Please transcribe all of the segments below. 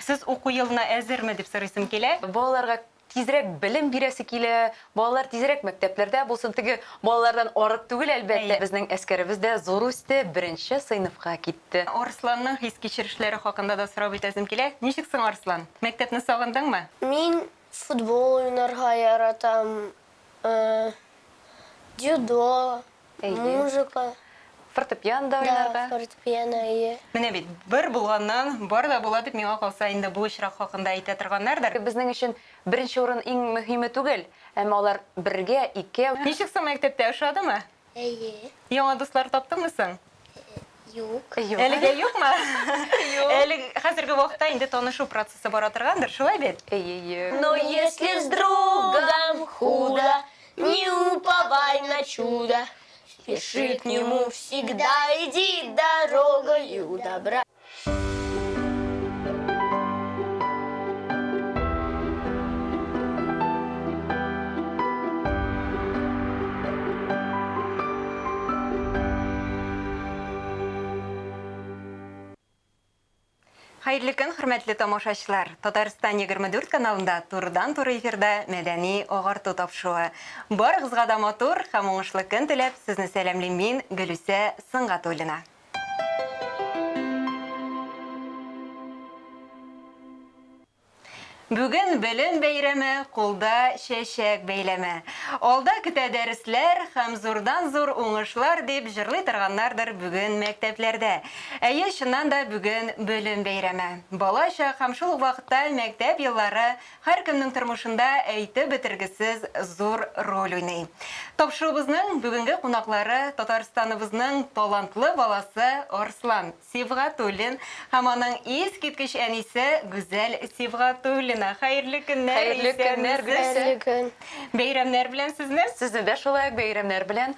Сез уку елына әзерме, дип сорыйсым килә. Балаларга тизрәк белем бирәсе килә, балалар тизрәк мәктәпләрдә булсын. Теге балалардан арып түгел, әлбәттә. Безнең Әскәребез дә зур үсте, беренче сыйныфка китте. Арсланның хис-кичерешләре хакында да сорап үтәсем килә. Ничек соң, Арслан, мәктәпне сагындыңмы? Мин футбол уйнарга яратам, дзюдо, Әйе. Музыка. Фортепиано да уйнарга. Да, фортепиано, әйе. Менә бит, бер булганнан бар да була дип, миңа калса, инде бу очрак хакында әйтә торганнардыр. Безнең өчен беренче урын иң мөһиме түгел, әмма алар бергә, икәү. Ничек соң мәктәптә, ошадымы? Әйе. Яңа дуслар таптыңмы соң? Юк. Юк. Әлегә юкмы? Юк. Әле хәзерге вакытта инде танышу процессы бара торгандыр, шулай бит? Әйе, әйе. Но если с другом худо, не уповай на чудо. Спеши к нему всегда, иди дорогою добра. Хәерле көн, хөрмәтле тамашачылар. Татарстан 24 каналында турыдан-туры эфирда мәдәни агарту тапшыруы. Барыгызга да матур һәм уңышлы көн теләп, сезне сәламлим мин, Гөлүсә Сынгатуллина. Бүген белем бәйрәме, кулда чәчәк бәйләме. Алда көтә дәресләр һәм зурдан-зур уңышлар, дип җырлый торганнардыр бүген мәктәпләрдә. Әйе, чыннан да, бүген белем бәйрәме. Бала чак һәм шул ук вакытта мәктәп еллары Һәркемнең тормышында әйтеп бетергесез зур роль уйный. Тапшыруыбызның бүгенге кунаклары Татарстаныбызның талантлы баласы Арслан Сибгатуллин һәм аның искиткеч әнисе Гүзәл Сибгатуллина. Хәерле көннәр, Хәерле көннәр, исәнмесез. Хәерле көн. Бәйрәмнәр белән сезне. Сезне дә шулай ук бәйрәмнәр белән.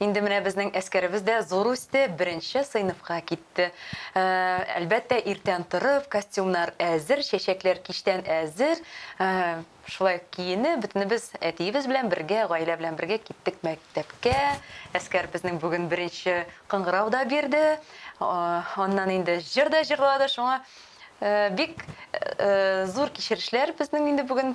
Инде менә безнең әскәребез дә зур үсте, беренче сыйныфка китте. Әлбәттә, иртән торып, костюмнар әзер, чәчәкләр кичтән әзер. Шулай киенеп, бөтенебез әтиебез белән бергә, гаилә белән бергә киттек мәктәпкә. Әскәр безнең бүген беренче кыңгырау да бирде. Аннан инде җыр да җырлады. Шуңа бик зур кичерешләр безнең инде бүген.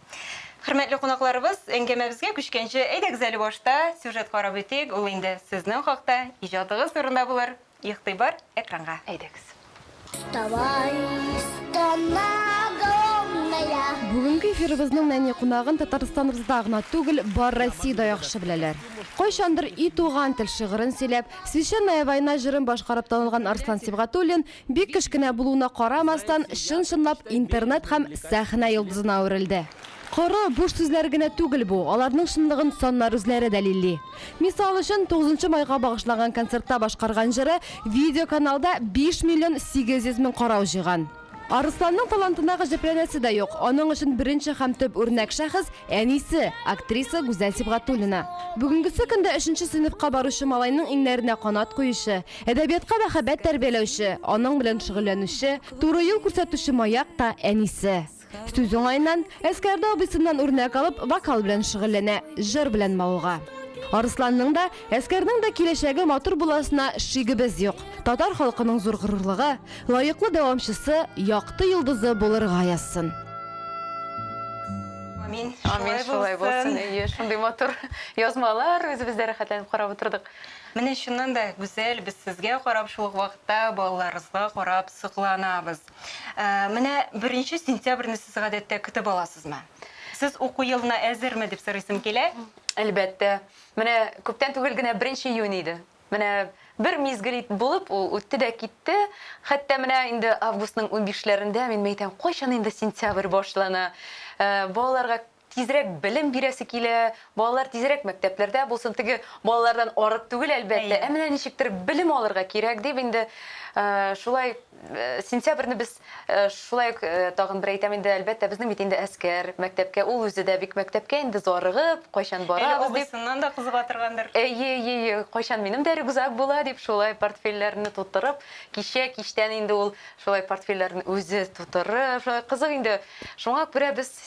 Хөрмәтле кунакларыбыз, әңгәмәбезгә күчкәнче, әйдәгез әле башта сюжет карап үтик, ул инде сезнең хакта, иҗатыгыз турында булыр. Игътибар экранга. Әйдәгез. Вставай, страна огромная. Бүгенге эфирыбызның нәни кунагын Татарстаныбызда гына түгел, бар Россиядә яхшы беләләр. Кайчандыр И туган тел шигырен сөйләп, Священная война җырын башкарып танылган Арслан Сибгатуллин Бик кечкенә булуына карамастан, чын-чынлап интернет һәм сәхнә йолдызына әверелде. Коры, буш сүзләр генә түгел бу, аларның чынлыгын саннар үзләре дәлилли. Мисал өчен, тугызынчы майга багышланган концертта башкарган җыры видеоканалда 5 миллион 800 мең карау җыйган. Арысланның талантына гаҗәпләнәсе дә юк, аның өчен беренче һәм төп үрнәк шәхес, әнисе, актриса Гүзәл Сибгатуллина. Бүгенгесе көндә өченче сыйныфка баручы малайның иңнәренә канат куючы, Әдәбиятка мәхәббәт тәрбияләүче, аның белән шөгыльләнүче, туры юл күрсәтүче маяк та әнисе. Сүз уңаеннан, Әскәрдә абыйсыннан үрнәк алып, вокал белән шөгыльләнә, җыр белән мавыга. Арысланның да, Әскәрнең дә киләчәге матур буласына шигебез юк. Татар халкының зур горурлыгы, лаеклы дәвамчысы, якты йолдызы булырга язсын! Амин. Амин, шулай булсын. Әйе, шундый матур язмалар, үзебез дә рәхәтләнеп карап утырдык. Менә чыннан да гүзәл, без сезгә карап шул ук вакытта балаларыгызга карап сокланабыз. Менә беренче сентябрьне сез гадәттә көтеп аласызмы? Сез уку елына әзерме дип сорыйсым килә. Әлбәттә. Менә күптән түгел генә беренче июнь иде. Менә бер мизгел ит булып ул үтте дә китте. Хәтта менә инде августның унбишләрендә мин мәйтәм, кайчан инде сентябрь башлана? Балаларга Тизрәк белем бирәсе килә, балалар тизрәк мәктәпләрдә булсын. Теге балалардан арып түгел, әлбәттә, ә менә ничектер белем алырга кирәк дип инде шулай сентябрьне без шулай ук тагын бер әйтәм инде, әлбәттә, безнең бит инде Әскәр мәктәпкә, ул үзе дә бик мәктәпкә инде зарыгып, кайчан барабыз дип. Әле абыйсыннан да кызыга торгандыр. Әйе, әйе, кайчан минем дә рюкзак була дип, шулай портфельләрне тутырып, кичә кичтән инде ул шулай портфельләрен үзе тутырып, шулай кызык инде. Шуңа күрә без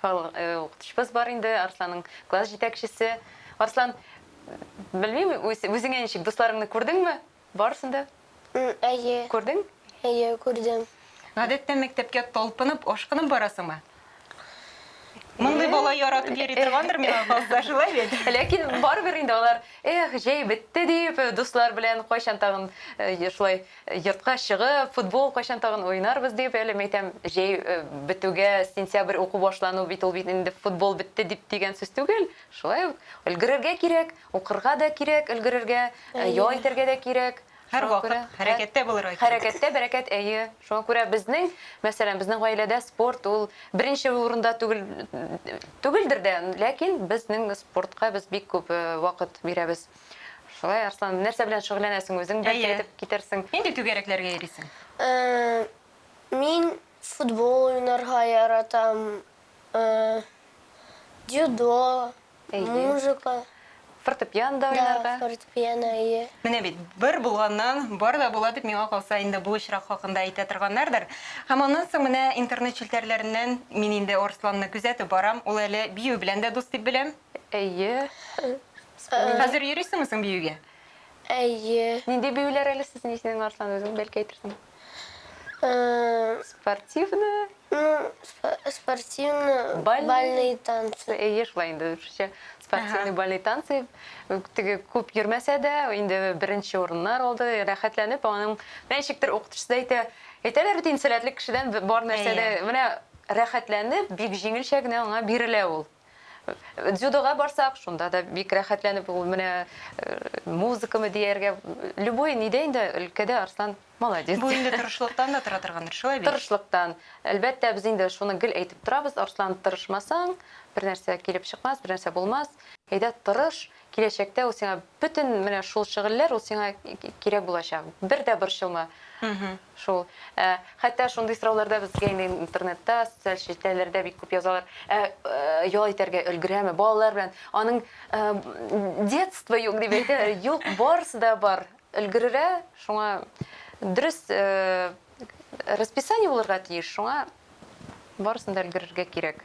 Хал укытучыбыз бар инде, Арсланның класс җитәкчесе. Арслан, белмим, үз үзеңә ничек, дусларыңны күрдеңме? Барысын да? Әйе. Күрдең? Әйе, күрдем. Гадәттә мәктәпкә талпынып, ашкынып барасыңмы? Мондый бала яратып йөри торгандыр миңа калса, шулай бит? Ләкин барыбер инде алар, эх, җәй бетте дип, дуслар белән кайчан тагын шулай Йортка чыгып, футбол кайчан тагын уйнарбыз дип, әле мәйтәм, җәй бетүгә, сентябрь уку башлану бит, ул бит инде футбол бетте дип дигән сүз түгел. Шулай ук өлгерергә кирәк, укырга да кирәк өлгерергә, ял итәргә дә кирәк. Һәрвакыт хәрәкәттә булырга кирәк. Хәрәкәттә бәрәкәт, әйе. Шуңа күрә безнең, мәсәлән, безнең гаиләдә спорт ул беренче урында түгел, түгелдер дә, ләкин безнең спортка без бик күп вакыт бирәбез. Шулай, Арслан, нәрсә белән шөгыльләнәсең үзең? Бәлки Әйе. әйтеп китәрсең. Нинди түгәрәкләргә йөрисең? Э, Мин футбол уйнарга яратам, э, дзюдо, Әйе. музыка, Фортепиано да да, уйнарга. фортепиано, әйе. Менә бит, бер булганнан бар да була дип миңа калса инде бу очрак хакында әйтә торганнардыр. Һәм аннан соң менә интернет челтәрләреннән мин инде Арсланны күзәтеп барам. Ул әле бию белән дә дус дип беләм. Әйе. Хәзер йөрисеңме соң биюгә? Әйе. Нинди биюләр әле сезнең исенең Арслан үзең бәлки әйтерсең? Спортивны? Спортивны, бальный танцы. Әйе, шулай инде русча. Спортивный бальный танцы. Теге күп йөрмәсә дә, инде беренче урыннар алды, рәхәтләнеп, аның ничектер укытучысы да әйтә, әйтәләр бит инде сәләтле кешедән бар нәрсә дә, менә рәхәтләнеп, бик җиңелчә генә аңа бирелә ул. Дзюдога барсак, шунда да бик рәхәтләнеп, ул менә музыкамы дияргә, любой нидә инде өлкәдә Арслан молодец. Бу инде тырышлыктан да тора торгандыр, шулай бит? Тырышлыктан. Әлбәттә, без инде шуны гел әйтеп торабыз, Арслан, тырышмасаң, бернәрсә килеп чыкмас, бернәрсә булмас. Әйдә, тырыш, Киләчәктә ул сиңа бөтен менә шул шөгыльләр ул сиңа кирәк булачак. Бер дә борчылма. Шул. Ә, хәтта шундый сорауларда безгә инде интернетта, социаль челтәрләрдә бик күп язалар. Ә, ял итәргә өлгерәме балалар белән? Аның детство юк дип әйтәләр. Юк, барысы да бар. Өлгерерә, шуңа дөрес расписание булырга тиеш, шуңа барысын да өлгерергә кирәк.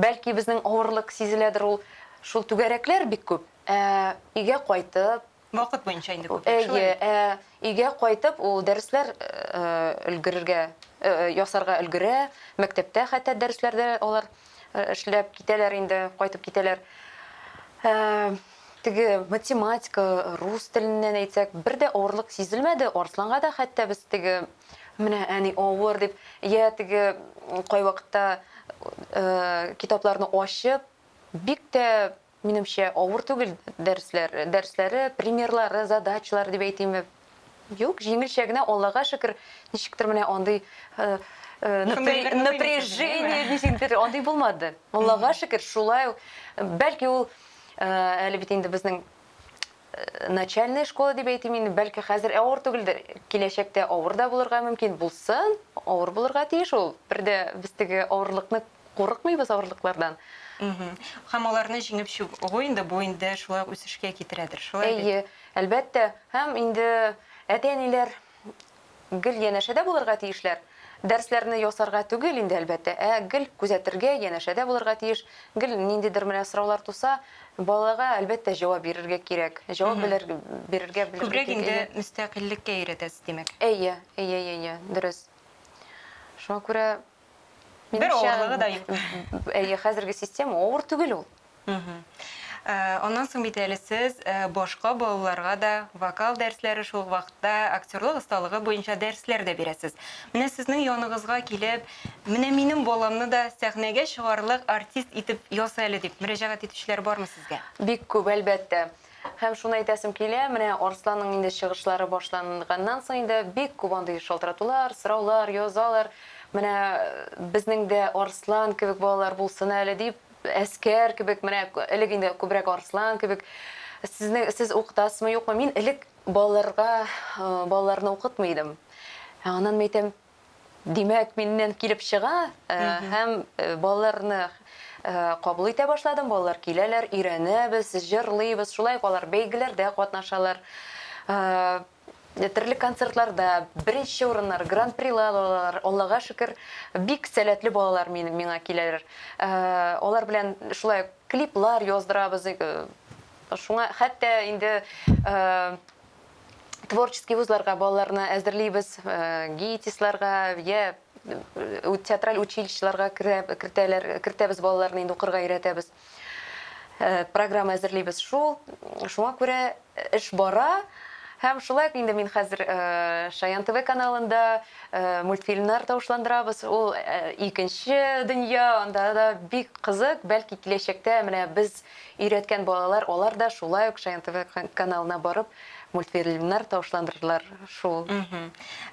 Бәлки безнең авырлык сизеләдер ул. Шул түгәрәкләр бик күп. Ә өйгә кайтып. Вакыт буенча инде күп яши. Әйе, ә өйгә кайтып ул дәресләр өлгерергә, ясарга өлгерә. Мәктәптә хәтта дәресләрдә алар эшләп китәләр инде, кайтып китәләр. Теге математика, рус теленнән әйтсәк, бер дә авырлык сизелмәде. Арсланга да хәтта без теге Менә әни авыр дип, я теге кайвакытта китапларны ачып, бик тә минемчә авыр түгел дәресләр, дәресләре, примерлары, задачалары дип әйтимме. Юк, җиңелчә генә, Аллага шөкер, ничектер менә андый напряжение ничектер андый булмады. Аллага шөкер, шулай. Бәлки ул әле бит инде безнең начальная школа дип әйтим инде, бәлки хәзер авыр түгелдер, киләчәктә авыр да булырга мөмкин булсын, авыр булырга тиеш ул. Бер дә без теге авырлыкны курыкмыйбыз авырлыклардан. Һәм аларны җиңеп чыгу инде бу инде шулай үсешкә китерәдер, шулай бит? Әйе, әлбәттә. Һәм инде әти-әниләр Гел янәшәдә булырга тиешләр. Дәресләрне ясарга түгел инде, әлбәттә, ә гел күзәтергә, янәшәдә булырга тиеш. Гел ниндидер менә сораулар туса, балага, әлбәттә, җавап бирергә кирәк. Җавап белер, бирергә белергә Күбрәк кирәк, инде әйе. мөстәкыйльлеккә өйрәтәсез, димәк. Әйе, әйе, әйе, әйе, дөрес. Шуңа күрә. Бер авырлыгы да юк. Әйе, хәзерге система авыр түгел ул. Аннан соң бит әле сез башка балаларга да вокал дәресләре, шул ук вакытта актерлык осталыгы буенча дәресләр дә бирәсез. Менә сезнең яныгызга килеп, менә минем баламны да сәхнәгә чыгарлык артист итеп яса әле дип мөрәҗәгать итүчеләр бармы сезгә? Бик күп, әлбәттә. Һәм шуны әйтәсем килә, менә Арсланның инде чыгышлары башланганнан соң инде бик күп андый шалтыратулар, сораулар язалар. Менә безнең дә Арслан кебек балалар булсын әле дип, әскәр кебек, менә элек инде күбрәк Арслан кебек. Сезнең сез укытасызмы, юкмы? Мин элек балаларга, балаларны укытмый идем. Аннан мин әйтәм, Димәк, миннән килеп чыга һәм балаларны кабул итә башладым. Балалар киләләр, өйрәнәбез, җырлыйбыз. Шулай ук алар бәйгеләрдә катнашалар. Төрле концертларда беренче урыннар, гран-прилар алалар. Аллага шөкер, бик сәләтле балалар мин, миңа киләләр. Алар белән шулай клиплар яздырабыз. Шуңа хәтта инде творческий вузларга балаларны әзерлибез, э, ГИТИСларга, я э, театраль училищеларга кертәләр, кертәбез балаларны инде укырга өйрәтәбез. Э, программа әзерлибез. Шул шуңа күрә эш бара. Һәм шулай инде мин хәзер Шаян ТВ каналында мультфильмнар тавышландырабыз. Ул икенче дөнья, анда да бик кызык. Бәлки киләчәктә менә без Өйрәткән балалар алар да шулай ук Шаян тв каналына барып мультфильмнар тавышландырдылар шул.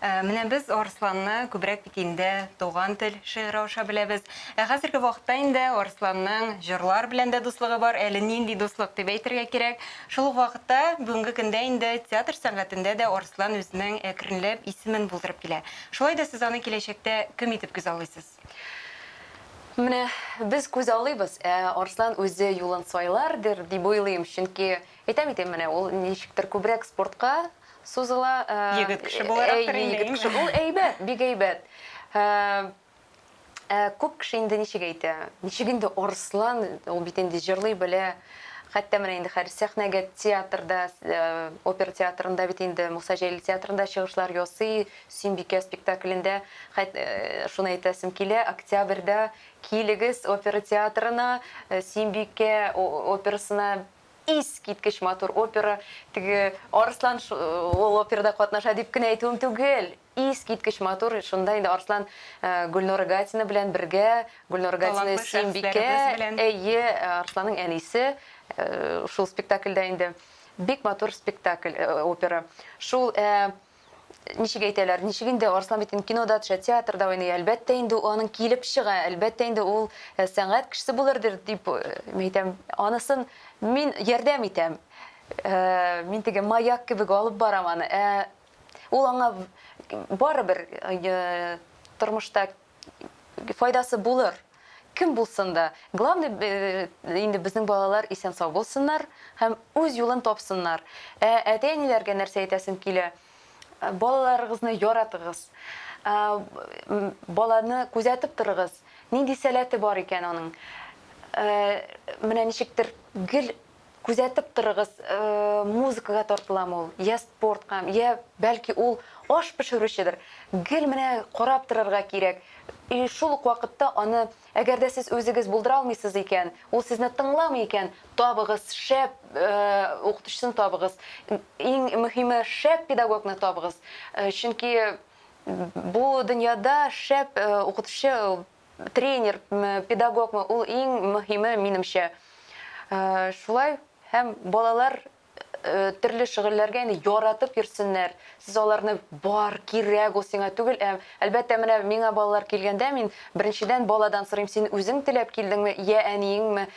Менә без Арсланны күбрәк бит инде Туган тел шигыре аша беләбез. Ә хәзерге вакытта инде Арсланның җырлар белән дә дуслыгы бар, әле нинди дуслык дип әйтергә кирәк. Шул ук вакытта бүгенге көндә инде театр сәнгатендә дә Арслан үзенең әкренләп исемен булдырып килә. Шулай да сез аны киләчәктә кем итеп күзаллыйсыз? Менә без күзаллыйбыз, ә Арслан үзе юлын сайлардыр, дип уйлыйм, чөнки, әйтәм бит, менә ул ничектер күбрәк спортка сузыла. Егет кеше буларактыр инде, әйеме? Егет кеше, ул әйбәт, бик әйбәт. Ә күп кеше инде ничек әйтә, ничек инде Арслан, ул бит инде җырлый белә, хәтта менә инде хәзер сәхнәгә театрда, опера театрында бит инде, Муса Җәлил театрында чыгышлар ясый, Сөембикә спектаклендә, хәт, шуны әйтәсем килә, октябрьдә килегез опера театрына, Сөембикә операсына искиткеч матур опера, теге Арыслан ул операда катнаша дип кенә әйтүем түгел, искиткеч матур, шунда инде Арыслан Гөлнора Гатина белән бергә, Гөлнора Гатина Сөембикә, әйе, Арысланның әнисе шул спектакльдә инде, бик матур спектакль, опера, шул, ә. Ничек әйтәләр, ничек инде, Арслан бит инде кинода төшә, театрда уйный, әлбәттә инде ул аның килеп чыга, әлбәттә инде ул э, сәнгать кешесе булыр дир, дип э, мин әйтәм, анысын мин ярдәм итәм. Э, мин теге маяк кебек алып барам аны. Ә ул аңа барыбер э, тормышта файдасы булыр. Кем булсын да. Главный инде безнең балалар исән-сау булсыннар һәм үз юлын тапсыннар. Ә әти-әниләргә нәрсә әйтәсем килә, балаларыгызны яратыгыз. Баланы күзәтеп торыгыз, нинди сәләте бар икән аның. Менә ничектер гел Күзәтеп торыгыз, музыкага тартыламы ул, я спортка, я бәлки ул аш пешерүчедер. Гел менә карап торырга кирәк. И шул ук вакытта аны, әгәр дә сез үзегез булдыра алмыйсыз икән, ул сезне тыңламый икән, табыгыз, шәп укытучысын табыгыз. Иң мөһиме, шәп педагогны табыгыз. Чөнки бу дөньяда шәп укытучы Тренер ме, педагог ме, ул иң мөһиме, минемчә. Шулай һәм балалар төрле шөгыльләргә инде яратып йөрсеннәр. Сез аларны бар, кирәк ул сиңа түгел, ә әлбәттә менә миңа балалар килгәндә мин беренчедән баладан сорыйм, син үзең теләп килдеңме, йә әниеңме?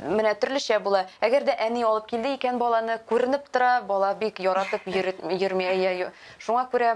Менә төрлечә була. Әгәр дә әни алып килде икән баланы, күренеп тора, бала бик яратып йөрми, әйе. Шуңа күрә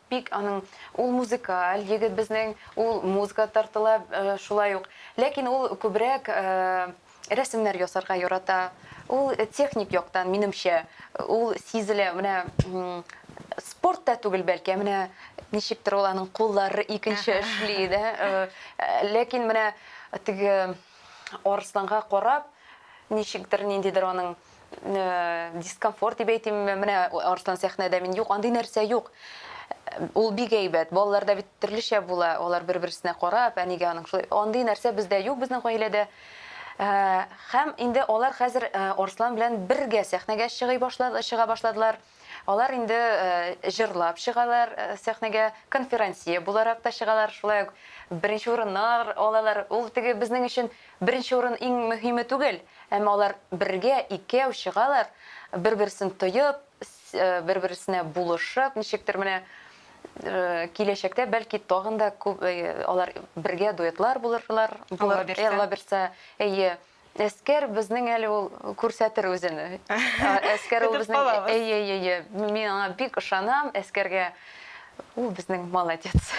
Бик аның, ул музыкаль егет безнең, ул музыка тартыла шулай ук. Ләкин ул күбрәк рәсемнәр ясарга ярата. Ул техник яктан, минемчә, ул сизелә. Менә спорт та түгел бәлки, ә менә ничектер ул аның куллары икенче эшли, дә. Ләкин менә теге Арысланга карап, ничектер, ниндидер аның дискомфорт дип әйтимме, менә Арслан сәхнәдә мин юк, андый нәрсә юк. Ул бик әйбәт. Балаларда бит төрлечә була, алар бер-берсенә карап, әнигә аның шулай. Андый нәрсә бездә юк, безнең гаиләдә. Һәм инде алар хәзер Арслан белән бергә сәхнәгә чыгый башлады, чыга башладылар. Алар инде җырлап чыгалар сәхнәгә, конферансье буларак та чыгалар, шулай ук беренче урыннар алалар. Ул теге безнең өчен беренче урын иң мөһиме түгел, әмма алар бергә, икәү чыгалар, бер-берсен тоеп, бер-берсенә булышып, ничектер менә киләчәктә, бәлки, тагын да күп алар бергә дуэтлар булырлар, Аллабирса. Аллабирса, әйе. Әскәр безнең әле ул күрсәтер үзен. Әскәр ул безнең әйе әйе. Мин аңа бик ышанам, әскәргә ул безнең молодец.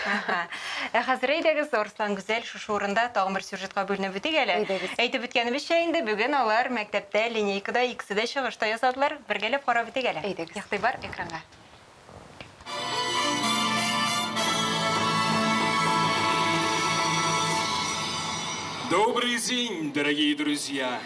Ә хәзер әйдәгез, Арслан Гүзәл, шушы урында тагын бер сюжетка бүленеп үтик әле. Әйтеп үткәнебезчә инде, бүген алар мәктәптә линейкада икесе дә чыгыш та ясадылар. Бергәләп карап үтик әле. Әйдәгез. Игътибар экранга. Добрый день, дорогие друзья!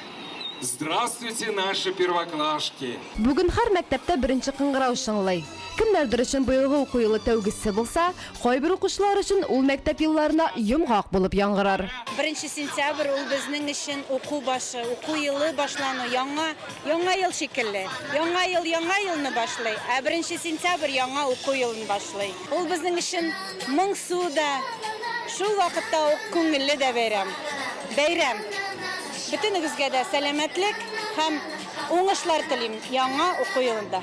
Здравствуйте, наши первоклашки! Бүген һәр мәктәптә беренче кыңгырау чыңлый. Кемнәрдер өчен быелгы уку елы тәүгесе булса, кайбер укучылар өчен ул мәктәп елларына йомгак булып яңгырар. Беренче сентябрь ул безнең өчен уку башы, уку елы башлану, яңа Яңа ел шикелле. Яңа ел яңа елны башлый, ә беренче сентябрь яңа уку елын башлый. Ул безнең өчен моңсу да, шул вакытта ук күңелле дә бәйрәм. Бәйрәм! Бөтенегезгә дә сәламәтлек һәм уңышлар телим яңа уку елында!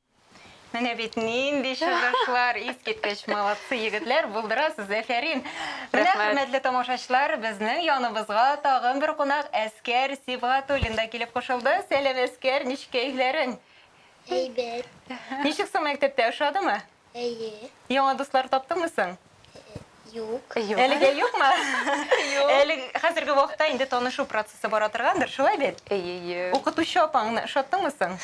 Менә бит нинди чыгышлар, искиткеч, молодцы, егетләр, булдырасыз, әфәрин. Менә, хөрмәтле тамашачылар, безнең яныбызга тагын бер кунак Әскәр Сибгатуллин да килеп кушылды. Сәлам, Әскәр, ничек кәефләрең? Әйбәт. Ничек соң мәктәптә, ошадымы? Әйе. Яңа дуслар таптыңмы соң? Юк. Юк. Әлегә юкмы? Юк. Әле хәзерге вакытта инде танышу процессы бара торгандыр, шулай бит? Әйе, әйе. Укытучы апаңны ошаттыңмы соң?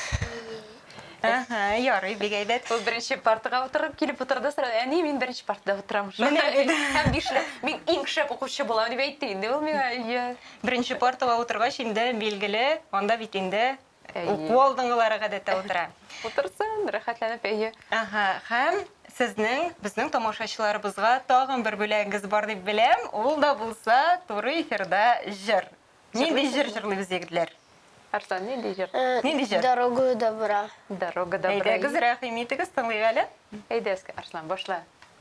Әһә, ярый, бик әйбәт. Ул беренче партага утырып килеп утырды, сорады, әни, мин беренче партада утырам. Менә бит. Һәм бишле, мин иң шәп укучы булам, дип әйтте инде ул миңа. Әйе. Беренче партага утыргач, инде билгеле, анда бит инде Уку алдынгылары гадәттә утыра. Утырсын, рәхәтләнеп, әйе. Ага, һәм сезнең, безнең тамашачыларыбызга тагын бер бүләгегез бар дип беләм. Ул да булса туры эфирда җыр. Нинди җыр җырлыйбыз, егетләр? Арслан, нинди җыр? Э, нинди җыр? Дорогу добра. Дорога добра. Әйдәгез, рәхим итегез, тыңлыйк әле. Әйдәгез, Арслан, башла.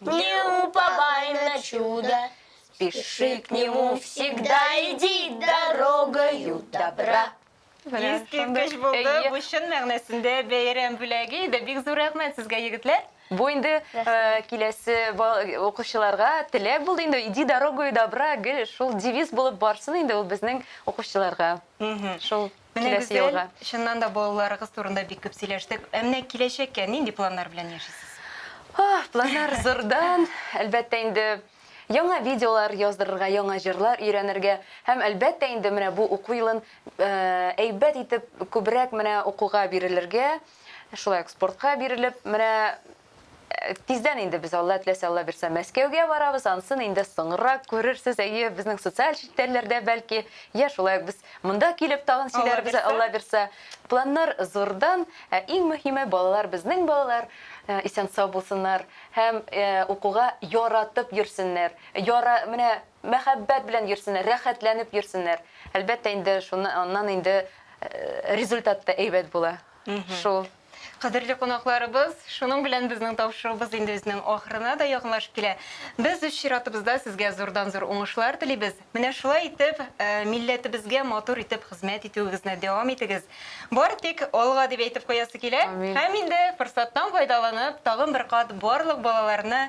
Не уповай на чудо, спеши к нему всегда, иди дорогою добра. Искиткеч булды. Бу чын мәгънәсендә бәйрәм бүләге иде. Бик зур рәхмәт сезгә, егетләр. Бу инде э, киләсе укучыларга теләк булды инде. Иди дорогою добра, гел шул девиз булып барсын инде ул безнең укучыларга. Шул Менә Киләсе гүзәл, елга. чыннан да балаларыгыз турында бик күп сөйләштек. Ә менә киләчәккә нинди планнар белән яшисез? Ах, планнар зурдан. Әлбәттә инде, яңа видеолар яздырырга, яңа җырлар өйрәнергә һәм, әлбәттә инде, менә бу уку елын әйбәт итеп, күбрәк менә укуга бирелергә, шулай ук спортка бирелеп, менә Тиздән инде без Алла теләсә Алла бирсә Мәскәүгә барабыз, ансын инде соңрак күрерсез, әйе, безнең социаль челтәрләрдә бәлки, я шулай ук без монда килеп тагын сөйләрбез, Алла бирсә. Планнар зурдан, ә иң мөһиме балалар безнең балалар исән сау булсыннар һәм укуга яратып йөрсеннәр, яра менә мәхәббәт белән йөрсеннәр, рәхәтләнеп йөрсеннәр. Әлбәттә инде шуны аннан инде результат та әйбәт була. Шул. Кадерле кунакларыбыз, шуның белән безнең тапшыруыбыз инде үзенең ахырына да якынлашып килә. Без үз чиратыбызда сезгә зурдан-зур уңышлар телибез. Менә шулай итеп, милләтебезгә матур итеп хезмәт итүегезне дәвам итегез. Бары тик алга дип әйтеп куясы килә. Һәм инде форсаттан файдаланып, тагын бер кат барлык балаларны